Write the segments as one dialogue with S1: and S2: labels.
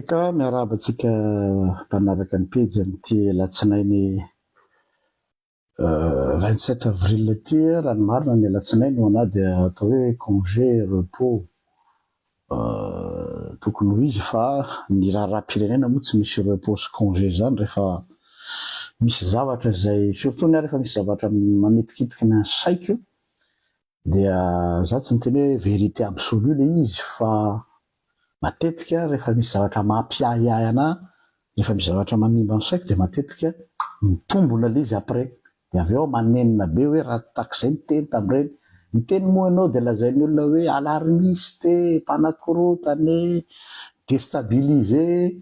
S1: Eka, miarahaba antsika mpanaraka ny pejy amin'ity alatsinainy vingt sept avril ity. Raha ny marina ny alatsinainy ho anah dia atao hoe congé, repos tokony ho izy fa ny raharaham-pirenena moa tsy misy repos sy congé izany rehefa misy zavatra izay, surtout ny ahy rehefa misy zavatra manitikitiky ny saiko Dia za tsy miteny hoe vérité absolue le izy fa matetika rehefa misy zavatra mampiahiahy anah, rehefa misy zavatra manimba ny saiko dia matetika mitombona le izy après. Dia avy eo aho manenina be hoe raha tak'izay ny teny tamin'ireny. Ny teny moa ianao dia lazain'ny olona hoe alarmiste, mpanakorontana e, destabiliser.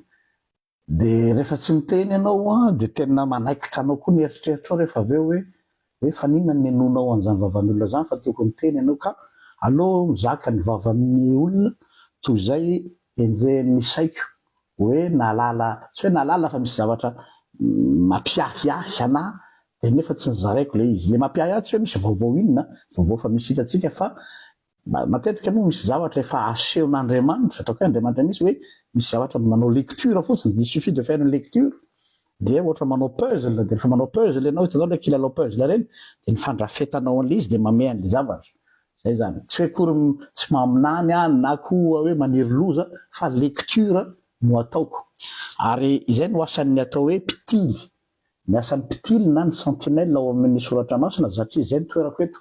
S1: Dia rehefa tsy miteny ianao an, dia tena manaikitra anao koa ny eritreritrao rehefa avy eo hoe, hoe fa n'inona no ninoanao an'izany vavan'olona izany fa tokony miteny ianao ka. Aleo mizaka ny vavan'ny olona toy izay enjehin'ny saiko hoe nahalala, tsy hoe nahalala fa misy zavatra mampiahiahy anà dia nefa tsy nozaraiko ilay izy. Ilay mampiahiahy tsy hoe misy vaovao inona, vaovao efa misy hitantsika fa Matetika moa misy zavatra efa asehon'Andriamanitra, ataoko hoe Andriamanitra mihitsy hoe misy zavatra manao lecture fotsiny, il suffit de faire une lecture dia ohatra manao puzzle dia rehefa manao puzzle ianao, hitanao ilay kilalao puzzle ireny, dia ny fandrafetanao an'ilay izy dia mamehy an'ilay zavatra. Izay izany. Tsy hoe akory m- tsy maminany aho na koa hoe maniry loza fa lecture no ataoko. Ary izay no asan'ny atao hoe mpitily, ny asan'ny mpitily na ny sentinelle ao amin'ny soratra masina zatria izay ny toerako eto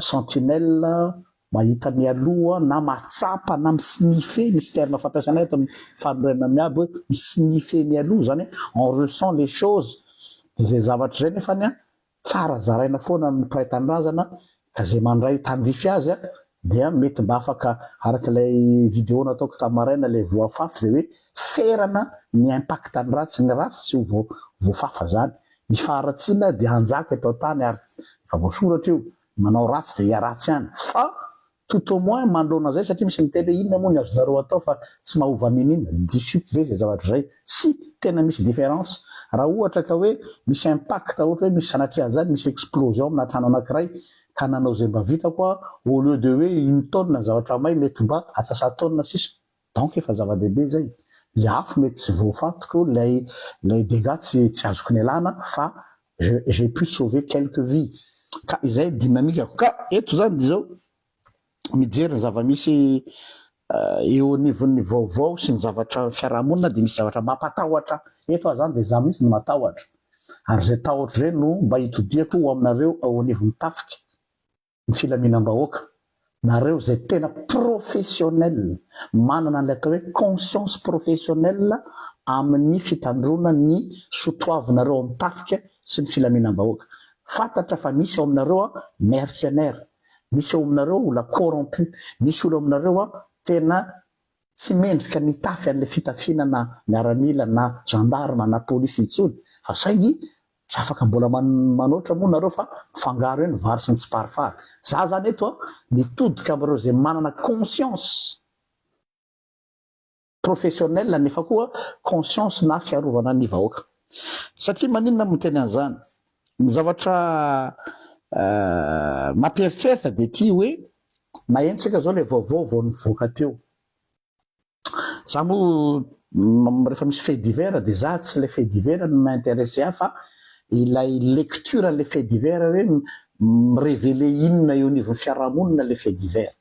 S1: sentinelle mahita mialoha na mahatsapa na mi-sniffer misy terme fampiasana eto ny fanorenana miabo hoe mi-sniffer mialoha izany hoe on ressent les choses dia izay zavatra izay nefany Tsara zaraina foana amin'ny mpiray tanindrazana ka izay mandray tandrify azy dia mety mba afaka araka ilay vidéo nataoko tamin'ny maraina ilay voafafy izay hoe ferana ny impact ny ratsy ny ratsy tsy ho voafafa izany ny faharatsiana dia hanjaka eto an-tany ary efa voasoratra io ny manao ratsy dia hiharatsy ihany fa Tout au moins manoloana izay satria misy miteny hoe inona moa ny azonareo atao fa tsy mahova n'inon'inona, diso ve izay zavatra izay? Si, tena misy différence. Raha ohatra ka hoe misy impact ohatra hoe misy sanatria an'izany misy explosion amina trano anankiray ka nanao izay mba vitako aho au lieu de hoe une tonne ny zavatra may mety mba atsasatona sisa. Donc efa zava-dehibe zay. Ny afo mety tsy voafatiko, lay lay dégâts tsy tsy azoko nialana fa je j'ai pu sauver quelques vies. Ka izay dynamique-ko. Ka eto zany dia izao, mijery ny zava-misy eo anivon'ny vaovao sy ny zavatra fiaraha-monina dia misy zavatra mampatahotra eto ahy zany dia za mihitsy no matahotra. Ary izay tahotro izay no mba itodihako ho aminareo ao anivon'ny tafika. ny filaminam-bahoaka, nareo izay tena professionnel, manana an'ilay atao hoe conscience professionnelle amin'ny fitandroana ny sotoavinareo ao amin'ny tafika sy ny filaminam-bahoaka. Fantatra fa misy ao aminareo mercenaires, misy ao aminareo olona corrompus, misy olona ao aminareo tena Tsy mendrika ny hitafy an'ilay fitafiana na miaramila na gendarme na polisy intsony fa saingy tsy afaka mbola manoatra moa nareo fa mifangaro eo ny vary sy ny tsiparifary. Za zany eto an mitodika amin'ireo izay manana conscience professionnelle nefa koa conscience na fiarovana ny vahoaka. Satria maninona no miteny an'izany? Ny zavatra mampieritreritra dia ity hoe Maheno tsika zao le vaovao vao nivoaka teo. Za moa refa misy fait divers de za tsy le fait divers no mi-interesser ahy fa ilay lecture anle fait divers hoe mi-reveler inona eo anivon'ny fiarahamonina le fait divers.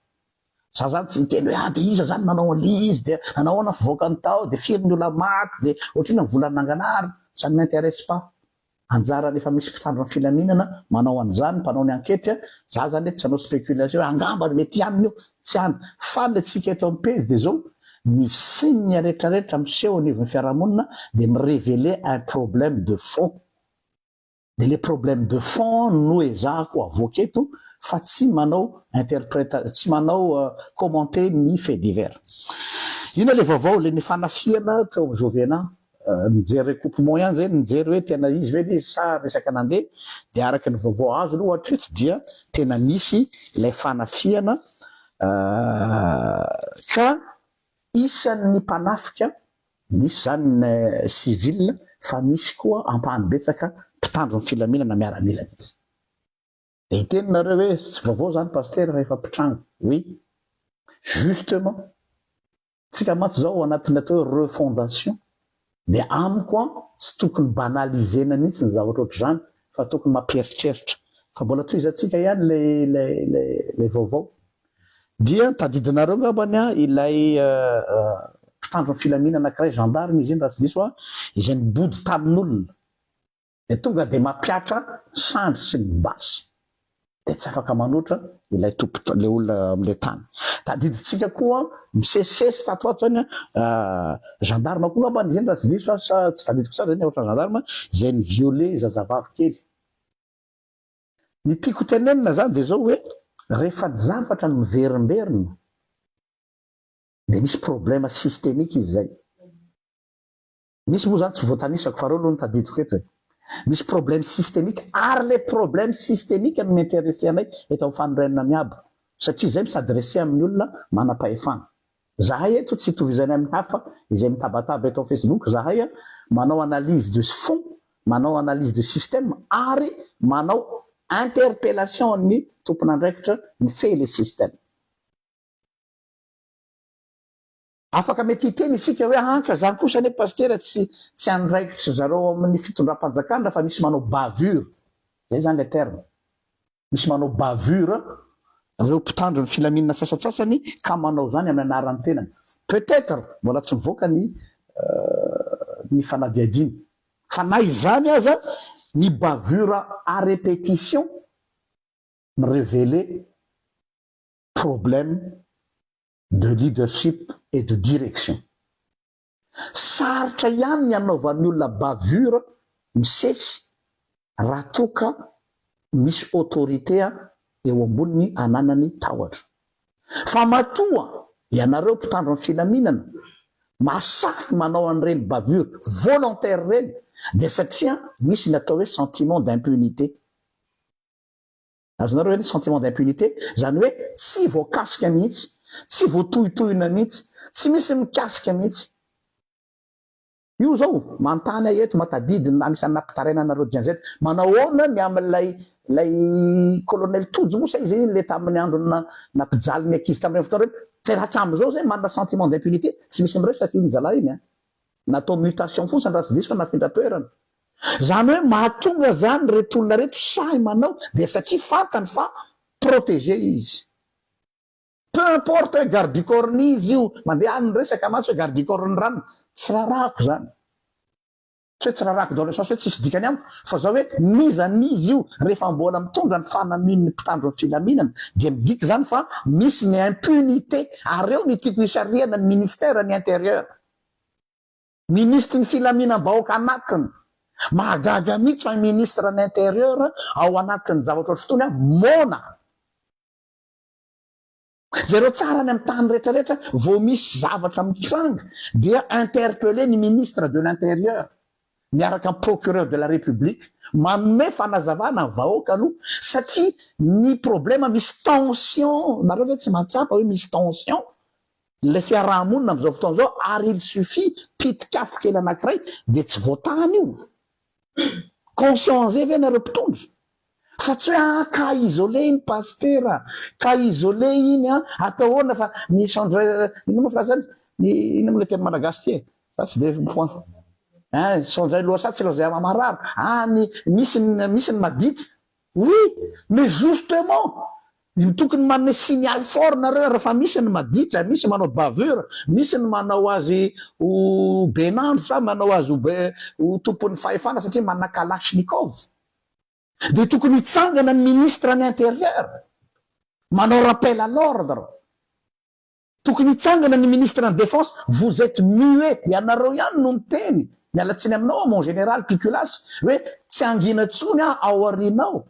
S1: Za zany tsy miteny hoe ah de iza zany nanao anle izy de nanao ahoana fivoakany tao de firy ny olona maty de ohatrinona ny vola nanganahary ça ne m'interesse pas. Anjara rehefa misy mpitandro ny filaminana manao an'izany, mpanao ny ankety a, za zany eto tsy hanao spéculation hoe angamba ry mety aminy io, tsy any, fa le tsika eto amin'ny pejy dia zao, ny signe retraretra miseho anivon'ny fiarahamonina dia mi reveler un problème de fond, dia le problème de fond no ezahako avoaka eto fa tsy manao interpreta, tsy manao commenter ny fait divers. Inona le vaovao le ny fanafihana teo amin'ny Jovena Nijery recoupement ihany zay nijery hoe tena izy ve le sa resaka nandeha dia araka ny vaovao azo aloha hatreto dia tena nisy ilay fanafihana ka isan'ny mpanafika nisy zany ny civil fa misy koa ampahany betsaka mpitandro ny filaminana miaramila mihitsy. Dia hiteny nareo hoe tsy vaovao zany Pasitera fa efa mpitranga. Oui. Justement. Tsika mantsy zao ao anatin'ny atao hoe refondation. Dia amiko an, tsy tokony banaliser-na mihitsy ny zavatra ohatr'izany fa tokony mampieritreritra. Fa mbola tohizantsika ihany ilay ilay ilay ilay vaovao. Dia tadidinareo ngambany an ilay mpitandro ny filamina anakiray, gendarme izy iny raha tsy diso an, izay nibody tamin'olona. dia tonga dia mampihatra ny sandry sy ny basy dia tsy afaka manoatra ilay tompo ilay olona amin'ilay tany. Tadidintsika koa misesisesy tato ato izany gendarme koa ngambany izany raha tsy diso aho sa tsy tadidiko tsara izany ohatrany gendarme izay ni-violer zazavavy kely. Ny tiako tenenina izany dia izao hoe rehefa ny zavatra no miverimberina dia misy problème systemique izy izay. Misy moa zany tsy voatanisako fa reo aloha no tadidiko eto e. Misy problème systemique ary le problème systemique no mi-interesser anay eto amin'ny fanorenana miabo satria zay mi-s'adresser amin'ny olona manam-pahefana. Zahay eto tsy itovizanay amin'ny hafa izay mitabataba eto facebook zahay a, manao analyse de fond, manao analyse de système ary manao interpellation an'ny tompon'andraikitra mifehy le système. Afaka mety hiteny isika hoe ankra zany kosa anie pasitera tsy tsy andraikitry zareo ao amin'ny fitondram-panjakana fa misy manao bavure zay zany le terme misy manao bavure reo mpitandro ny filaminana sasatsasany ka manao zany amin'ny anaran'ny tenany peut etre mbola tsy mivoaka ny ny fanadihadiana fa na izany aza ny bavure à repetition mi reveler problème de leadership et de direction. Sarotra ihany ny hanaovan'ny olona bavure misesy raha toa ka misy autorité eo amboniny ananany tahotra. Fa matoa ianareo mpitandro ny filaminana mahasahy manao an'ireny bavure volontaire ireny dia satria misy ny atao hoe sentiment d'impunité. Azonareo ve ny sentiment d'impunité? Izany hoe tsy voakasika mihitsy, tsy voatohitohina mihitsy, tsy misy mikasika mihitsy. Io izao manontany ahy eto, matadidy ny anisan'ny nampitaraina anareo Gen-Z, manao ahoana ny amin'ilay ilay Colonel Tojo moa sa iza iny le tamin'ny andron'ny nampijaly ny ankizy tamin'ireny fotoana ireny? Jeraka amin'izao izay manana sentiment d'impunité, tsy misy miresaka iny zalahy iny an! Natao mutation fotsiny raha tsy diso fa nafindra toerana. Zany hoe mahatonga zany reto olona reto sahy manao dia satria fantany fa protégé izy. Peu importe hoe garde du corps n'iza io, mandeha any ny resaka mantsy hoe garde du corps ny ranona. Tsy rarako zany. Tsy hoe tsy rarako dans le sens hoe tsisy dikany amiko fa zao hoe n'iza n'iza io rehefa mbola mitondra ny fanamian'ny mpitandro ny filaminana dia midika zany fa misy ny impunité ary eo ny tiako hisarihana ny ministère ny intérieur. Minisitry ny filaminam-bahoaka anatiny. Mahagaga mihitsy fa ministre ny interieur ao anatin'ny zavatra ohatry itony aho moana. Jereo tsara any amin'ny tany rehetra rehetra vao misy zavatra mitranga dia interpellé ny ministre de l'interieur miaraka amin'ny procureur de la République manome fanazavana ny vahoaka aloha satria ny problème misy tension nareo ve tsy mahatsapa hoe misy tension Ilay fiaraha-monina amin'izao fotoana izao ary il suffit pitik'afo kely anankiray dia tsy voatany io. Conscient an'izay ve ianareo mpitondra? Fa tsy hoe ah cas isolé iny Pasitera, cas isolé iny an, atao ahoana fa ny change inona moa phrase zany? ny inona moa ilay teny malagasy ity e? za tsy dia mifoha ein, change loha sa tsy loha zay maha marary, ah ny misy ny misy ny madity, Oui mais justement ny tokony manome signal fort nareo ary fa misy ny maditra misy manao bavure misy ny manao azy ho benandro sa manao azy ho ho tompon'ny fahefana satria manana kalachnikov dia tokony hitsangana ny ministre ny intérieur manao rappel à l'ordre Tokony hitsangana ny ministre ny defense, vous etes muet, ianareo ihany no miteny, miala tsiny aminao aho mon général Piculasy, hoe tsy hangina intsony aho ao aorianao,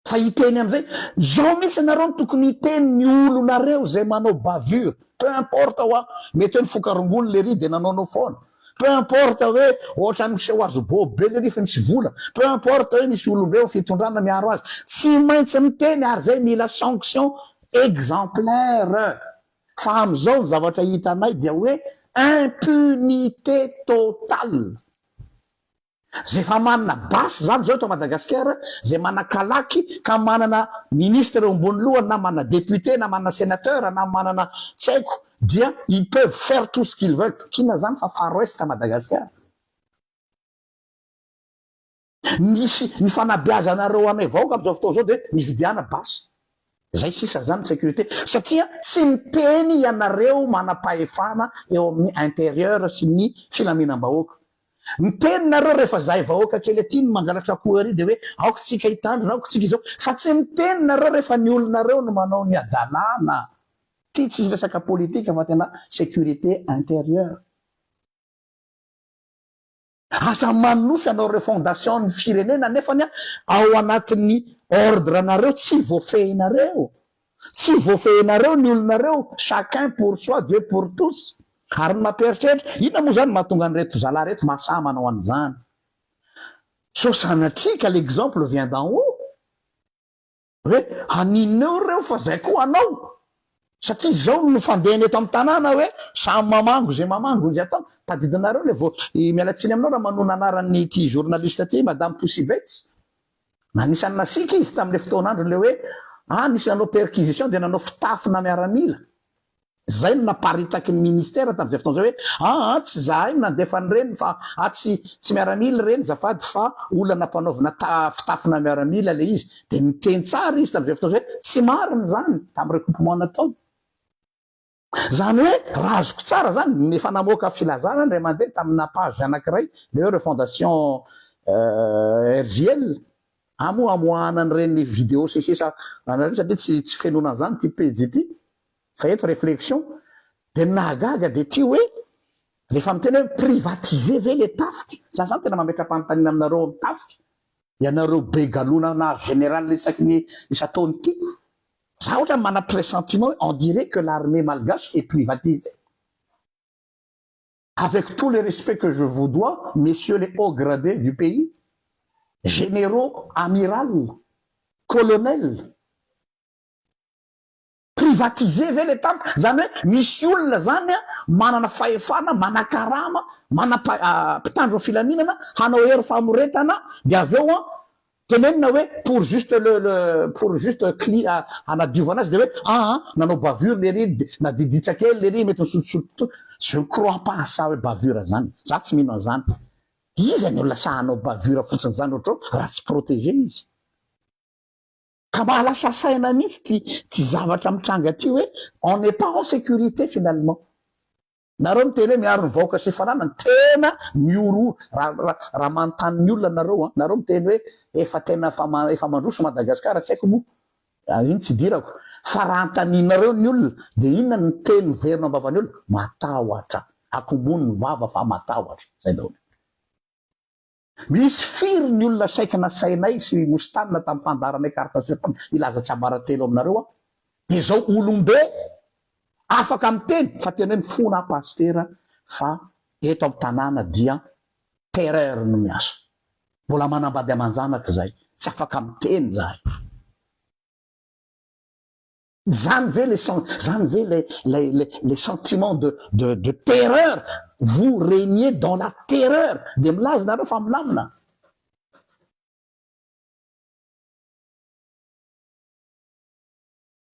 S1: fa hiteny amin'izay, zao mihitsy ianareo no tokony hiteny ny olonareo izay manao bavure, peu importe hoa, mety hoe nifoka rongony lery dia nanaonao foana, peu importe hoe ohatrany miseho azy bobo be lery fa misy vola, peu importe hoe misy olombe ao fitondrana miaro azy, tsy maintsy miteny ary zay mila sanction exemplaire fa amin'izao ny zavatra hitanay dia hoe impunité totale zay efa manana basy izany izao eto Madagasikara zay manakalaky ka manana ministre eo ambony lohany na manana député na manana sénateur na manana tsy haiko dia ils peuvent faire tout ce qu'ils veulent, kina izany fa far west Madagasikara. Misy ny fanabeazanareo anay vahoaka amzao fotoana zao dia mividiana basy zay sisa zany ny securite satria tsy miteny ianareo manapahefana eo amin'ny interieur sy ny filaminambahoaka miteny nareo rehefa zahay vahoaka kely aty no mangalatra akoho ery dia hoe aoka tsika hitandrina aoka tsika izao fa tsy miteny nareo rehefa ny olonareo no manao ny adalana ty tsisy resaka politika fa tena securite interieur Aza manonofy anao reo fondation ny firenena nefany a ao anatiny ordre nareo tsy voafehinareo tsy voafehinareo ny olonareo chacun pour soi Dieu pour tous ary ny mapieritreritra inona moa zany mahatonga an'ireto zalahy reto mahasaha manao an'izany so sanatria ka l'exemple vient d'en haut. Hoe haninona eo ireo fa zay koa hanao satria zao no fandehany eto amin'ny tanàna hoe samy mamango izay mamango izay atao tadidinareo le vao miala tsiny aminao raha manoa ny anaran'ny ity journaliste ity madame Poussivets anisan'ny nasiaka izy tamin'le fotoan'andro le hoe ah nisy nanao perquisition dia nanao fitafina miaramila Izay no naparitaky ny ministera tamin'izay fotoana izay hoe, aa tsy izahay no nandefa an'ireny fa aa tsy tsy miaramila ireny zafady fa olona nampanaovina ta fitafina miaramila ilay izy. Dia niteny tsara izy tamin'izay fotoana izay hoe, tsy marina izany tamin'ny recoupement nataony. Izany hoe, raha azoko tsara izany, ny efa namoaka filazana indray mandeha tamina page anankiray ilay hoe Refondation RJL, aa moa amoahana an'ireny vidéo sy ny sisa an'ireny satria tsy tsy fenoina an'izany ity pejy ity. Fa eto reflexion dia ny nahagaga dia ity hoe rehefa miteny hoe privatiser ve le tafika? Za zany tena mametra-panontaniana aminareo ao amin'ny tafika, ianareo be galona nahazo général isaky ny isan-taona ity. Za otrany manana pressentiment hoe on dirait que l'armée malgache est privatisée. Avec tout le respect que je vous dois messieurs les hauts gradés du pays, généraux, amiral, colonel, Privatiser ve le tam, zany hoe misy olona zany a manana fahefana, manakarama, manam pitandro filaminana hanao hery famoretana de avy eo a tenenina hoe pour juste le le pour juste cli a hanadiovana azy de hoe aa nanao bavure lery de nadiditra kely lery mety nisotosotro to je ne crois pas à ça hoe bavure zany za tsy mino anzany iza no lasa hanao bavure fotsiny zany otrao raha tsy proteger izy. Ka mba lasa saina mihitsy ty ty zavatra mitranga ty hoe on n'est pas en sécurité finalement. Nareo miteny hoe miaro ny vahoaka sy fananany tena mihorohoro ra ra ra manontany ny olona nareo an. Nareo miteny hoe efa tena efa ma efa mandroso Madagascar tsy haiko moa ah iny tsy idirako fa raha antaninareo ny olona dia inona ny teny miverina ambavany olona? Matahotra. Akombony ny vava fa matahotra. Zay daholo. Misy firy ny olona saiky nasainay sy nosintanina tamin'ny fandaharanay carte sur table hilaza tsiambaratelo aminareo aho dia izao olombe afaka miteny fa tena hoe mifona aho pasitera fa eto amin'ny tanàna dia terreur no miasa mbola manambady aman-janaka izay tsy afaka miteny izahay. Zany ve le sen, zany ve le le le le sentiment de de de terreur, vous regnez dans la terreur, de milaza nareo fa milamina.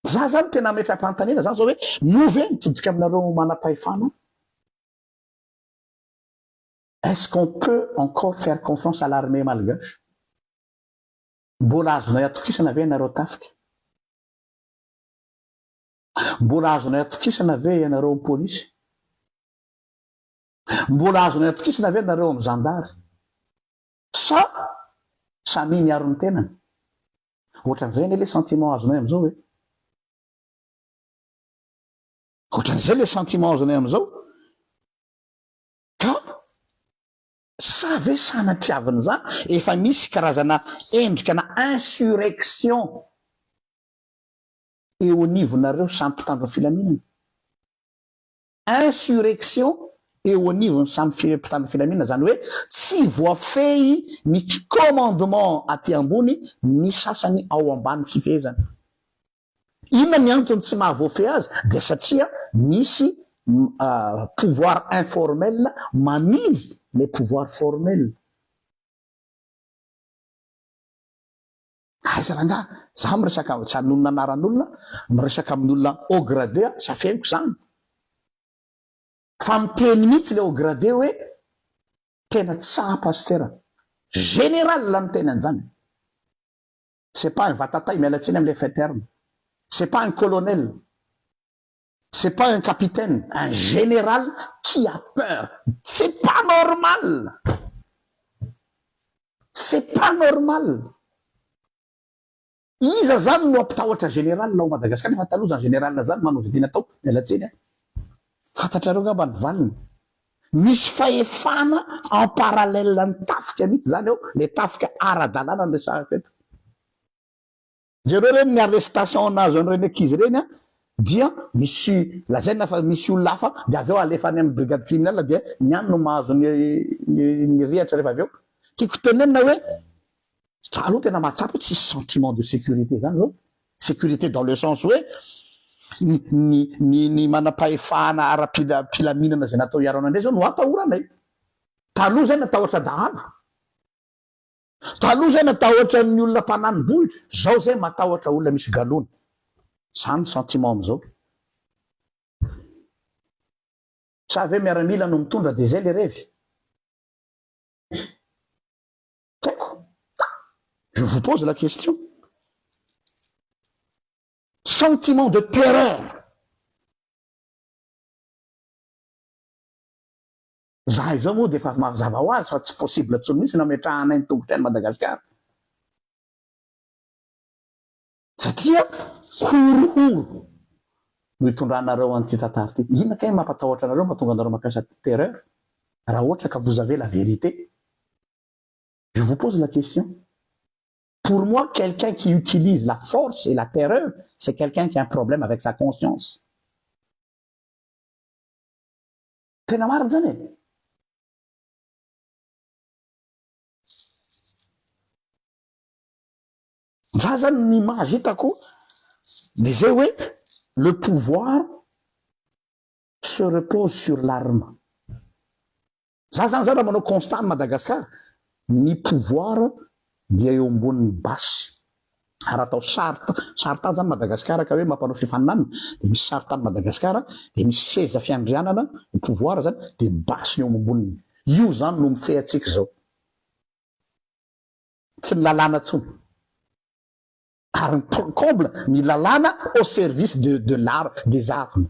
S1: Za zany tena ametram-panontaniana zany zao hoe moa ve mitodika aminareo manam-pahefana? Est-ce qu'on peut encore faire confiance à l'armée malgache? Mbola azonay atokisana ve ianareo tafika? Mbola azonay atokisana ve ianareo polisy? Mbola azonay atokisana ve nareo amin'ny zandary? Sa samia miaro ny tenany? Ohatran'izay anie le sentiment azonay amin'izao e! Ohatran'izay le sentiment azonay amin'izao ka Sa ve sanatriavin'izany? Efa misy karazana endrikana insurrection eo anivonareo samy mpitandro ny filaminana? Insurrection eo anivon'ny samy mpitandro ny filaminana izany hoe tsy voafehy ny commandement aty ambony ny sasany ao ambany fifehezana. Inona ny antony tsy maha voafehy azy dia satria misy pouvoir informel mamily ilay pouvoir formel. Aiza rangah? Za miresaka tsy hanonona anaran'olona, miresaka amin'ny olona haut gradé aho, tsy afeniko zany. Fa miteny mihitsy le haut gradé hoe tena tsapa pasitera. Général no miteny an'zany. C'est pas un vatatay miala tsiny amin'ilay fin terme. C'est pas un colonel. C'est pas un capitaine, un général qui a peur. C'est pas normal. C'est pas normal. Iza zany no ampitahotra général ao Madagascar nefa taloha zany général zany manao vidina tao miala tsiny a. Fantatrareo ngamba ny valiny. Misy fahefana en parallèle ny tafika mihitsy izany ao, ilay tafika ara-dalàna no resahako eto. Jereo ireny ny arrestation nahazo an'ireny ankizy ireny an, dia misy lazaina fa misy olona hafa dia avy eo alefa any amin'ny brigade criminelle dia ny any no mahazo ny ny ny rihatra rehefa avy eo. Tiako tenenina hoe Za aloha tena mahatsapa hoe tsisy sentiment de sécurité zany zao, sécurité dans le sens hoe ny ny ny manampahefana ara-pila pilaminana zay natao hiaro anay ndray zao no atahoranay. Taloha zay natahotra dahalo, taloha zay natahotra ny olona mpanani-bohitra, zao zay matahotra olona misy galona. Zany ny sentiment amizao. Sa ve miaramila no mitondra de zay le revy? Toko. Je vous pose la question. Sentiment de terreur. Za izao moa dia efa mazava ho azy fa tsy possible intsony mihitsy nametrahanay ny tongotra any Madagasikara. Satria horohoro no itondranareo an'ity tantara ity. Inona kay no mampatahotra anareo mahatonga anareo mampiasa terreur raha ohatra ka vous avez la vérité? Je vous pose la question. Pour moi quelqu'un qui utilise la force et la terreur c'est quelqu'un qui a un problème avec sa conscience. Tena marina zany e. Za zany ny image hitako de zay hoe le pouvoir se repose sur l'arme. Za zany zany raha manao constat any Madagascar ny pouvoir dia eo ambonin'ny basy. Ary atao charte, charte any zany Madagascar ka hoe mampanao fifaninanana de misy charte any Madagascar de misy seza fiandrianana ny pouvoir zany de basy ny eo amamboniny. Io zany no mifehy antsika zao. Tsy ny lalàna tsony ary ny point comble ny lalàna au service de de l'art des arts ny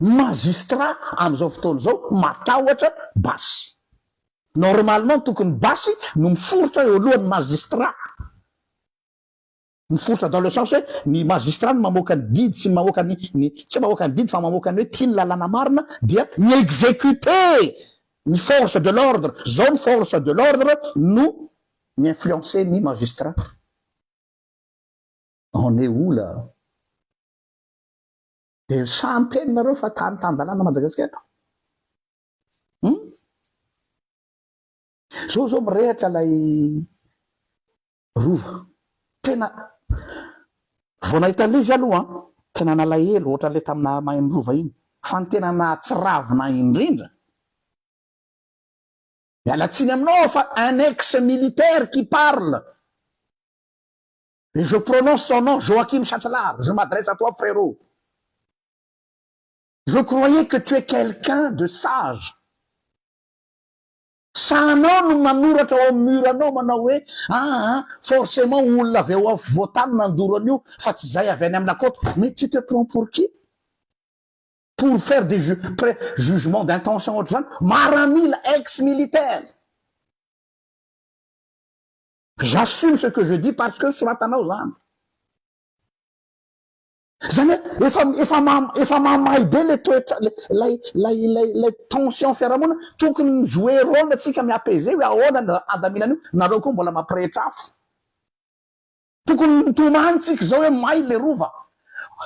S1: magistrats amin'izao fotoana izao matahotra basy normalement tokony basy no miforitra eo alohan'ny magistrats Niforitra dans le sens hoe ny magistrat no mamoaka ny didy sy mamoaka ny ny tsy hoe mamoaka ny didy fa mamoaka ny hoe ty ny lalàna marina dia mi-executer ny force de l'ordre, zao ny force de l'ordre no mi-influencer ny magistrat. On est où là? Dia sahy miteny nareo fa tany tan-dalàna Madagasikara? Hum? Zao zao mirehatra lay Rova. Tena vao nahita levy aho aloha tena nalahelo ohatran'ilay taminà Mahaino Rova iny fa ny tena nahatsiravina ahy indrindra, miala tsiny aminao aho fa un ex militaire qui parle et je prononce son nom Joachim Chatelard, je m'adresse à toi frérot, je croyais que tu es quelqu'un de sage, Sa anao no manoratra ao amin'ny mur anao manao hoe aa forcement olona avy ao afovoan-tany nandoro an'io fa tsy izay avy any amin'ny lakota mais tu te prends pour qui? pour faire des ju pre jugement d'intention ohatr'izany? maramila ex militaire! j'assume ce que je dis parce que soratanao izany. Izany hoe efa efa efa mahamay be ilay toetra ilay ilay ilay ilay tension fiarahamonina, tokony mi-jouer rôle antsika mi-apaiser hoe ahoana no handaminana io, nareo koa mbola mampirehitra afo. Tokony mitomany tsika izao hoe may ilay rova.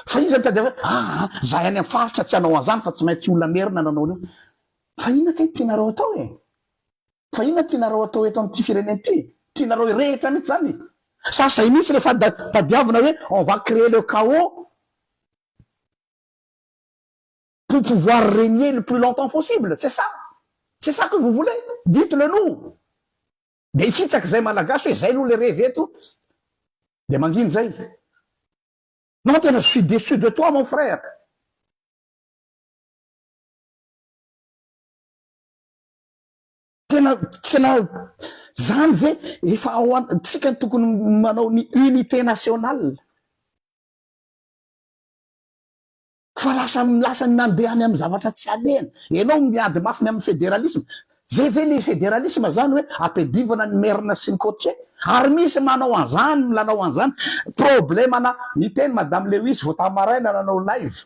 S1: Fa izy mitady hoe aa zahay any amin'ny faritra tsy hanao an'izany fa tsy maintsy olona merina no hanao an'io. Fa inona kay no tianareo atao e? Fa inona tianareo atao eto amin'ity firenena ity? Tianareo hirehitra mihitsy izany e! Sa zay mihitsy rehefa tadiavina hoe on va creer le chaos pour pouvoir regner le plus longtemps possible? C'est ça? C'est ça que vous voulez? Dites le nous! Dia hifitsaka izay Malagasy hoe izay aloha le revy eto dia mangina izay. Non tena je suis déçu de toi mon frère! Tena tena zany ve efa ao antsika tokony manao ny unité nationale fa lasa lasa ny mandeha any amin'ny zavatra tsy alehany. Ianao miady mafy ny amin'ny fédéralisme, zay ve le fédéralisme zany hoe ampiadivana ny merina sy ny cotier? Ary misy manao an'zany milalao an'zany, problème-na niteny madame Lewis vao tamy maraina nanao live,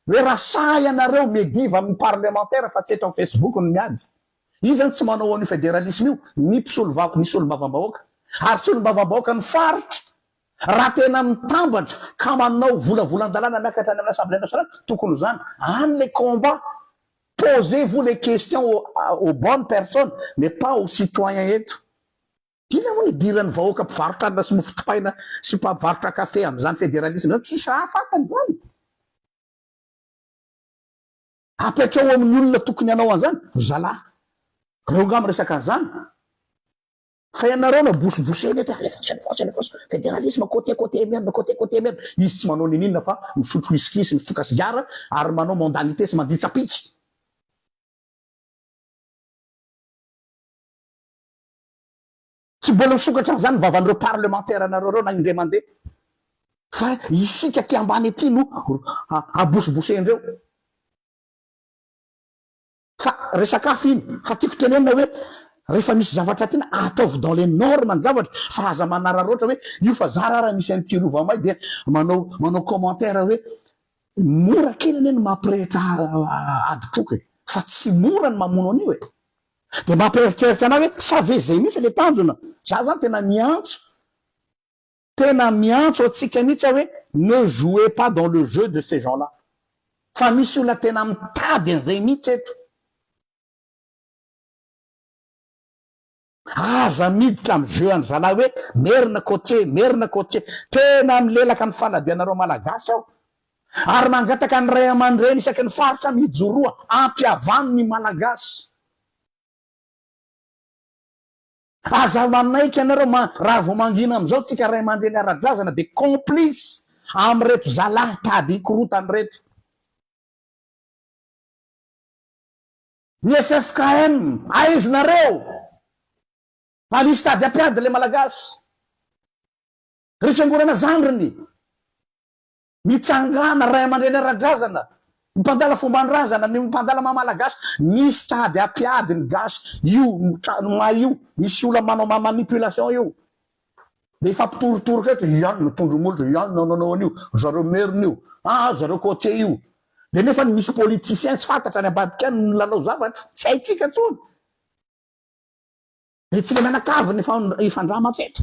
S1: Hoe raha sahy ianareo mediva amin'ny parlemantera fa tsy eto amin'ny facebook no miady. Iza no tsy manao an'io federalisme io? Ny mpisolovava, ny solombavambahoaka. Ary solombavambahoakan'ny faritra. Raha tena mitambatra ka manao volavolan-dalàna miakatra any amin'ny assemblée nationale, tokony ho izany. Any ilay combat. Posez-vous les questions aux bonnes personnes mais pas aux citoyens eto. Inona moa no idiran'ny vahoaka mpivarotra hanina sy mofo dipaina sy mpamvarotra kafe amin'izany federalisme izany? Tsisy raha hahafatany izany. Apetraho amin'ny olona tokony hanao an'izany ry zalahy. Reo nga miresaka an'izany. Fa ianareo no abosibosena eto, alefaso, alefaso, alefaso, federalisme, côté, côté, merde, côté, côté, merde. Izy tsy manao niniana fa misotro whisky sy mifoka sigara ary manao mondanité sy mandia tsapiky. Tsy mbola ho sokatra an'izany ny vavan'ireo parlemantera-nareo ireo na indray mandeha. Fa isika aty ambany aty no abosibosendreo. Fa resaka hafa iny. Fa tiako tenenina hoe rehefa misy zavatra tiana ataovy dans les normes ny zavatra fa aza manararaotra hoe io fa za ra raha misy an'ity rova may dia manao manao commentaire hoe mora kely anie ny mampirehitra adim-poko e. Fa tsy mora ny mamono an'io e. Dia mampieritreritra anay hoe sa ve izay mihitsy ilay tanjona? Za zany tena miantso, tena miantso antsika mihitsy aho hoe ne jouez pas dans le jeu de ces gens-là fa misy olona tena mitady an'izay mihitsy eto. Aza miditra amin'ny jeu an'i zalahy hoe merina côtier, merina côtier. Tena milelaka ny fanadihanareo Malagasy aho ary mangataka ny raiamandreny isaky ny faritra mijoroa ampihavano ny Malagasy. Aza manaiky ianareo raha vao mangina amin'izao tsika raimandreny ara-drazana dia complice amin'ireto zalahy tady hikorotana ireto. Ny ffkm aizinareo anisy tady ampiady ilay Malagasy. Ry fiangonana zandriny. Mitsangàna ray aman-dreny ara-drazana, ny mpandala fomban-drazana, ny mpandala maha malagasy, misy tady hampiady ny gasy, io trano may io, misy olona manao maha manipulation io, dia hifampitorotoroka eto, ian no tondro-molotra, ian no nanao an'io, ry zareo merina io, aa ry zareo côtier io, dia nefa ny misy politiciens tsy fantatra any ambadika any no milalao zavatra tsy haintsika intsony, dia tsy le mianakavy no hifandrama hatreto.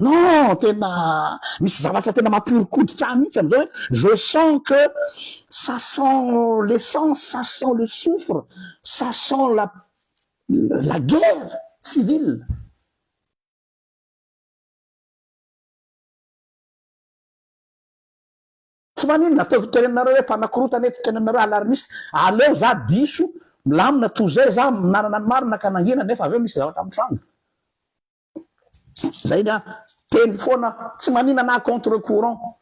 S1: Non, tena misy zavatra tena mampihoron-koditra ahy mihitsy amin'izao hoe je sens que ça sent l'essence, ça sent le soufre, ça sent la la guerre civile. Tsy maninona, ataovy tenanareo hoe mpanakorotana eto, tenanareo alarmiste. Aleo za diso, milamina toy izay za, manana ny marina ka nangina nefa avy eo misy zavatra mitranga. Zay ny ahy. Teny foana tsy maninana ahy contre courant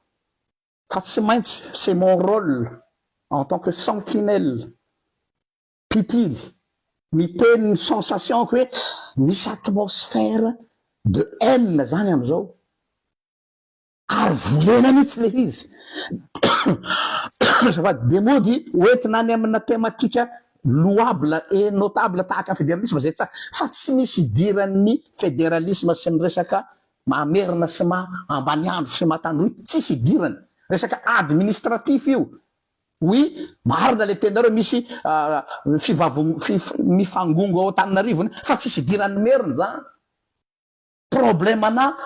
S1: fa tsy maintsy c'est mon rôle en tant que sentinelle mpitily miteny ny sensation ko hoe misy atmosphère de haine zany amizao. Ary volena mihitsy le izy. Azafady, dia mody hoentina any amina thématique louable et notable tahaka federalisma izay tsara, fa tsy misy idiran'ny federalisma sy ny resaka maha merina sy maha ambaniandro sy maha tandroy, tsisy idirany. Resaka administratif io. Oui, marina le teninareo misy fivavong, mifangongo ao Antananarivo fa tsisy idiran'ny merina izany. problème ana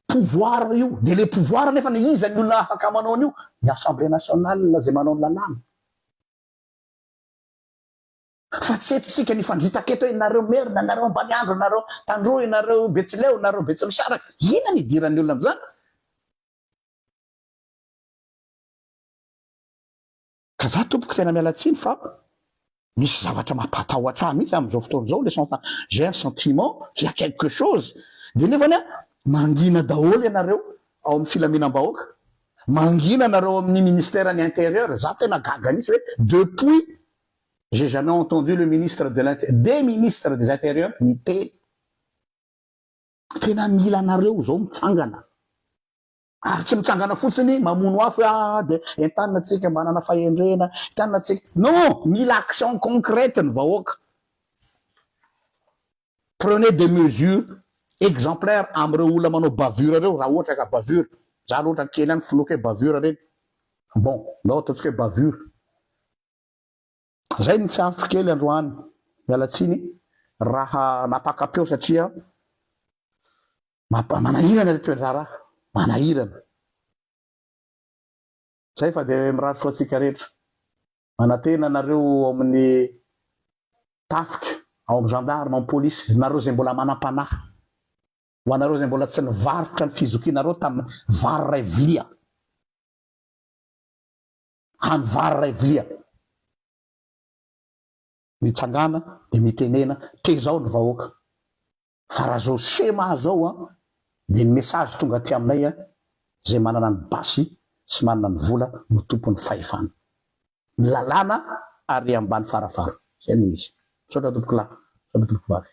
S1: pouvoir io de le pouvoir nefa na iza ny olona afaka manao an'io ny assemblée nationale zay manao ny lalàna fa tsy eto tsika ny fangitaka eto hoe nareo maire na nareo ambaniandro nareo tandroy nareo betsileo nareo betsimisaraka ina ny idiran'ny olona am'zany Ka za tompoko tena miala tsiny fa misy zavatra mampatahotra ahy mihitsy amin'izao fotoana izao le sens j'ai un sentiment qu'il y a quelque chose de nefany a mangina daholo ianareo ao amin'ny filaminam-bahoaka mangina anareo amin'ny ministère ny intérieur za tena gaga mihitsy hoe depuis j'ai jamais entendu le ministre de l'int des ministres des intérieurs miteny tena mila anareo izao mitsangana Ary tsy mitsangana fotsiny mamono afo hoe ah dia entanina tsika manana fahendrena, entanina tsika. Non! Mila action concrète ny vahoaka. Prenez des mesures exemplaires amin'ireo olona manao bavure ireo raha ohatra ka bavure. Za aloha ohatran'ny kely ihany finoako hoe bavure ireny. Bon, ndao ataontsika hoe bavure. Zay ny tsarotrko kely androany, miala tsiny raha napakapeo satria manahirana le toedraharaha, manahirana. Zay fa de mirary soa antsika rehetra. Manantena anareo ao amin'ny tafika, ao amin'ny gendarme, ao amin'ny polisy, nareo izay mbola manam-panahy, ho anareo izay mbola tsy nivarotra ny fizokianareo tamin'ny vary iray vilia. hany vary iray vilia. Mitsangàna dia mitenena, tezao ny vahoaka. Fa raha izao schéma izao an, dia ny message tonga aty aminay an, izay manana ny basy sy manana ny vola no tompon'ny fahefana. Ny lalàna ary ambany farafara. Izay no izy. Misaotra tompokolahy. Misaotra tompokovavy.